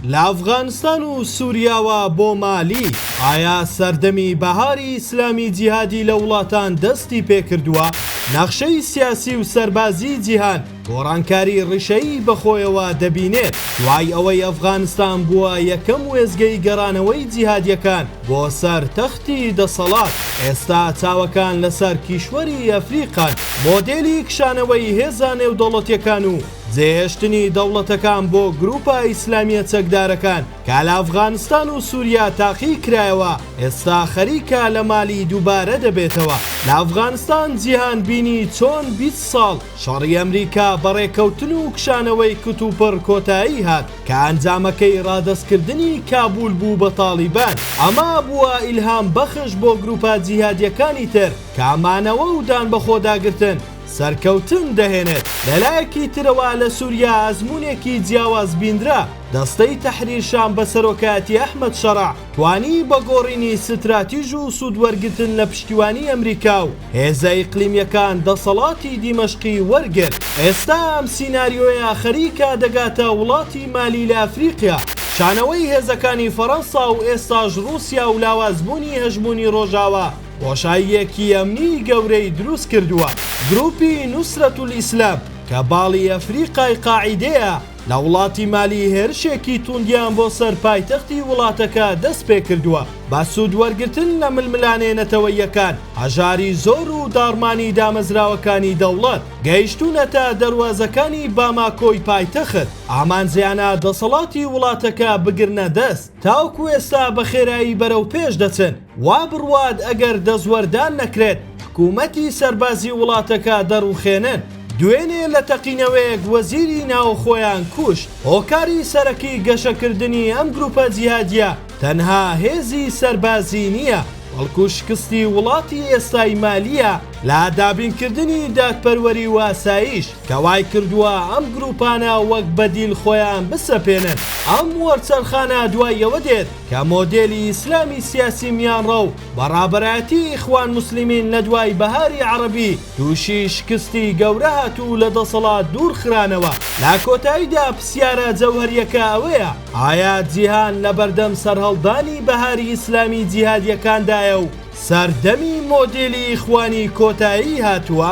لە ئەفغانستان و سوریاوە بۆ مالی، ئایا سەردەمی بەهاری ئیسلامی جیهادی لە وڵاتان دەستی پێکردووە؟ نەخشەی سیاسی و سەربازی جیهان گۆڕانکاری ڕیشەیی بەخۆیەوە دەبینێت، دوای ئەوەی ئەفغانستان بووە یەکەم وێستگەی گەڕانەوەی جیهادیەکان بۆ سەر تەختی دەسەڵات، ئێستا چاوەکان لەسەر کیشوەری ئەفریقان، مۆدێلی کشانەوەی هێزە نێودەوڵەتیەکان و جێهێشتنی دەوڵەتەکان بۆ گروپە ئیسلامیە چەکدارەکان کە لە ئەفغانستان و سوریا تاقی کرایەوە ئێستا خەریکە لە مالی دوبارە دەبێتەوە لە ئەفغانستان جیهان بینی چۆن بیست ساڵ شەڕی ئەمریکا بە ڕێکەوتن و کشانەوەی کتوپڕ کۆتایی هات کە ئەنجامەکەی ڕادەستکردنی کابول بوو بە تاڵیبان ئەمە بوە ئیلهام بەخش بۆ گروپە جیهادیەکانی تر کە مانەوە و دان بەخۆداگرتن سەرکەوتن دەهێنێت. لەلایەکی ترەوە لە سوریا ئەزموونێکی جیاواز بینرا، دەستەی تەحریر شام بە سەرۆکایەتی ئەحمەد شەرع توانی بە گۆڕینی ستراتیژ و سوود وەرگرتن لە پشتیوانی ئەمریکا و هێزە ئیقلیمییەکان دەسەڵاتی دیمەشقی وەرگرت. ئێستا ئەم سیناریۆیە خەریکە دەگاتە وڵاتی مالی لە ئەفریقیا. کشانەوەی هێزەکانی فەرەنسا و ئێستاش ڕووسیا و لاوازبوونی هەژموونی ڕۆژاوا، بۆشاییەکی ئەمنی گەورەی دروست کردووە، گروپی نوسرەتولئیسلام کە باڵی ئەفریقای قاعیدەیە لە وڵاتی مالی هێرشێکی توندیان بۆ سەر پایتەختی وڵاتەکە دەست پێکردووە بە سود وەرگرتن لە ململانێ نەتەوەییەکان هەژاری زۆر و داڕمانی دامەزراوەکانی دەوڵەت گەیشتونەتە دەروازەکانی باماکۆی پایتەخت ئامانجیانە دەسەڵاتی وڵاتەکە بگرنە دەست. تاوکو ئێستا بە خێرایی بەرەو پێش دەچن، وا بڕوات ئەگەر دەستوەردان نەکرێت حکوومەتی سەربازی وڵاتەکە دەڕووخێنن. دوێنێ لە تەقینەوەیەک وەزیری ناوخۆیان کوشت. هۆکاری سەرەکی گەشەکردنی ئەم گرووپە جیهادییە تەنها هێزی سەربازی نییە، بەڵکو شکستی وڵاتی ئێستای مالییە لە دابینکردنی دادپەروەری و ئاسایش. کە وای کردووە ئەم گرووپانە وەک بەدیل خۆیان بسەپێنن. ئەم وەرچەرخانە دوای ئەوە دێت کە مۆدێلی ئیسلامی سیاسی میانڕە و بە ڕابەرایەتی ئیخوان موسلیمین لە دوای بەهاری عەڕەبی تووشی شکستی گەورە هات و لە دەسەڵات دوور خرانەوە. لە کۆتاییدا پرسیارە جەوهەرییەکە ئەوەیە ئایا جیهان لە بەردەم سەرهەڵدانی بەهاری ئیسلامی جیهادییەکاندایە و سەردەمی مۆدێلی ئیخوانی کۆتایی هاتووە.